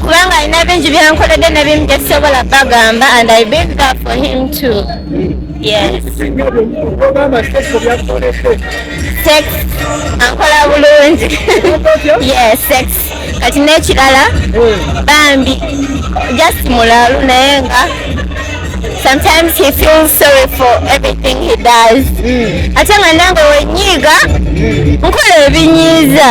kubanga alina bingi byankoledde ne bimu byesobola bagamba and i been there for him too yes sex ankola bulungi yes sex kati n'ekirala bambi just mulalu naye nga sometimes he feels sorry for everything he does ate nga nange wenyiiga nkola ebinyiiza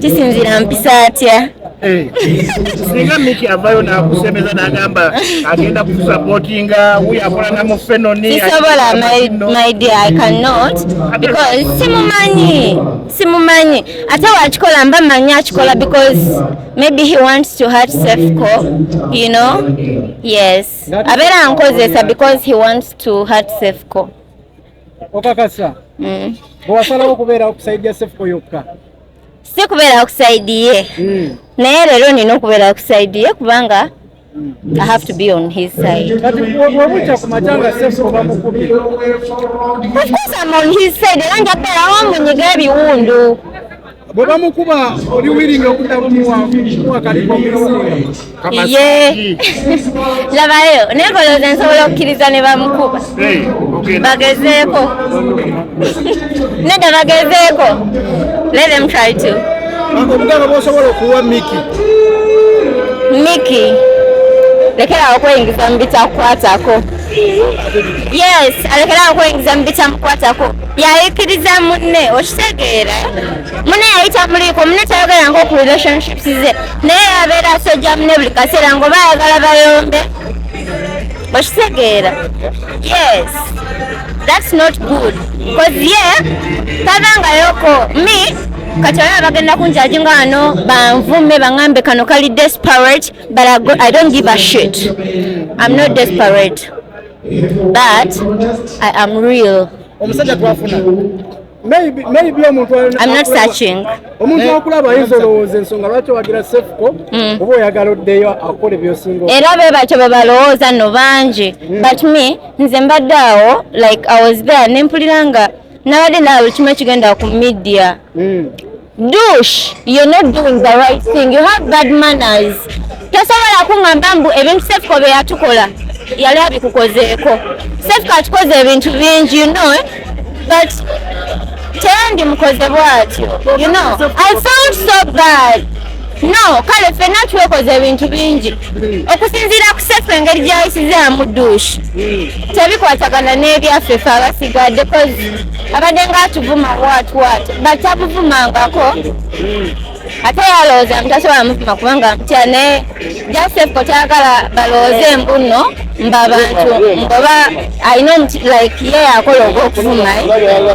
kisinzira mpisa atya eh. singa miki avayo nakusembeza nagamba agenda kusapotinga wy akola namufenonisobola my dear i cannot because simumanyi simumanyi ate wakikola mba manyi akikola because maybe he wants to hurt safeco you know yes abeera ankozesa because he wants to hurt safeco okakasa mm. bwewasalawo okubeerawo kusaidia sefuko yokka si kubeerawo kusaidiye mm. naye leero nina okubeerawo kusaidiye kubanga mm. I have to be on his side. Of course I'm on his side. Era nja kubeerawo amunyiga ebiwundu. bwe bamukuba oli wiringa okudda muwakalimu ye labayo naye kolooza nsobola okukkiriza ne bamukuba bagezeeko nedda bagezeeko let them try to obugano bwosobola okuwa miki miki lekerawo okweyingiza mu bitakukwatako yes alekerawo okweyingiza mu bitamukwatako yayikiriza munne okitegeera munne yayita muliiko munne tayogera nga oku relationships ze naye yabeera asojja munne buli kaseera ngaoba ayagala bayombe okitegeera yes that's not good bcause ye tavangayoko me kati olaba bagenda kunjaji nga wano banvume baŋambe kano kali desperate but i don't give a shit i'm not desperate but I am real. I'm not searching. omuntu akulaba ayinza olowooza ensonga lwaki owagira sefuko mm. oba oyagala oddeyo akole byosinga era be batyo bwe balowooza no bangi mm. but me nze mbadde awo like i was there nempulira nga nabadde naawe kimu ekigenda ku media mm. Dush, you're not doing the right thing. You have bad manners. Tosobola kungamba mbu ebintu Sefko bye yatukola yali abikukozeeko. Sefko atukoze ebintu bingi you know eh? but teyandi mukoze bwatyo you know I felt so bad no kale fenna twekoze ebintu bingi okusinziira ku sefu engeri gyayisizaamu duushi tebikwatagana n'ebyaffe fe abasigadde abadde nga atuvuma watwate batabuvumangako ate yalowooza nti tasobola muvuma kubanga mutya naye jasefko tayagala balowooze mbunno mba bantu ngoba alina omuti like ye yakola oba okuvuma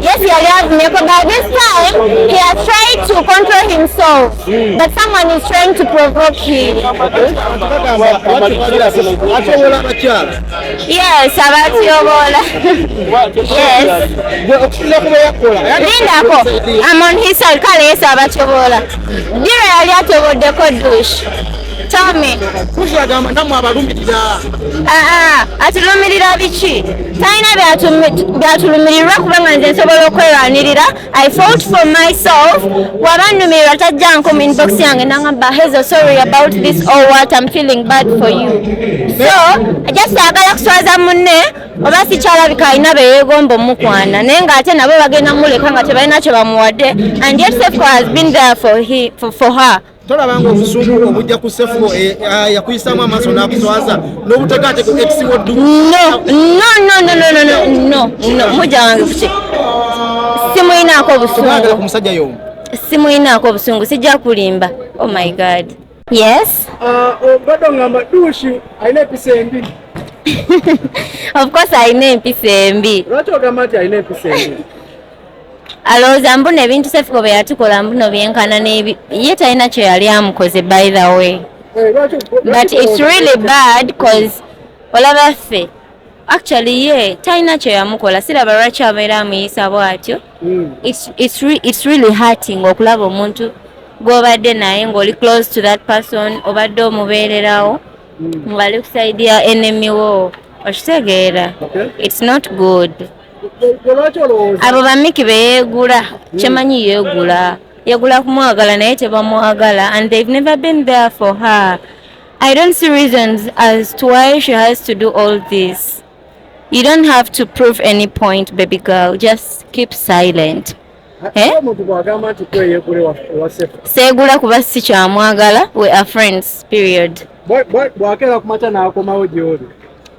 yes yali avumyeko but this time he has tried to control himself but someone is trying to provoke him Yes, abatyoboola. Yes. Lindako, I'm on his side, kale yes abatyoboola. Dira yali atyoboddeko dush. Tell me. Kushagamba namwe abalumirira. Ah ah, atulumirira biki? Talina byatulumirirwa kubanga nze nsobola okwerwanirira I fought for myself wabanumirwa tajja nkuma inbox yange nangamba hezo sorry about this or oh, what I'm feeling bad for you so just agala kuswaza munne oba sikyalabika alina beyegomba omukwana naye nga ate nabo bagenda muleka nga tebalina kyebamuwadde and yet safe has been there for, he, for, for her tolabanga obusungu obujja ku sefuko eh, ah, yakuyisaamu amaaso n'akuswaza n'obutekaateka ekisinga oddumuja wange kuki simuyinaako obusungu musajja yomu simuyinaako obusungu sijja kulimba oh my god yes ah, obadde ongamba duushi alina episa embi of course alina empisa embi lwaki ogamba nti alina empisa embi alowooza mbuno ebintu sefiko bye yatukola mbuno byenkana nebi ye talina kyo yali amukoze by the way eh, but it's really bad cause olaba ffe actually ye talina kyo yamukola siraba lwaki abeera amuyisa bwatyo hmm. it's really hurting okulaba omuntu gwobadde naye ngaoli close to that person obadde omubeererawo hmm. ngali kusaidia enemy wo okitegeera it's not good abo bamiki beyeegula hmm. kyemanyi yeegula yagula kumwagala naye tebamwagala and they've never been there for her i don't see reasons as to why she has to do all this you don't have to prove any point baby girl just keep silent eh? seegula kuba si kyamwagala we are friends period bwakera kumata nakomawo gyoli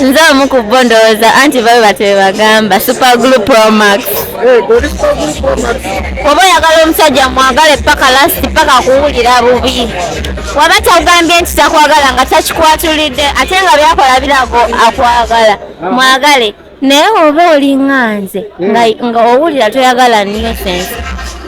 nze omu ku bo ndowooza anti babe bati bebagamba super glu promax oba oyagala omusajja mwagale paka lasti paka kuwulira bubi waba takugambye nti takwagala nga takikwatulidde ate nga byakola birago akwagala mwagale naye oba olinga nze nga owulira toyagala nyo sense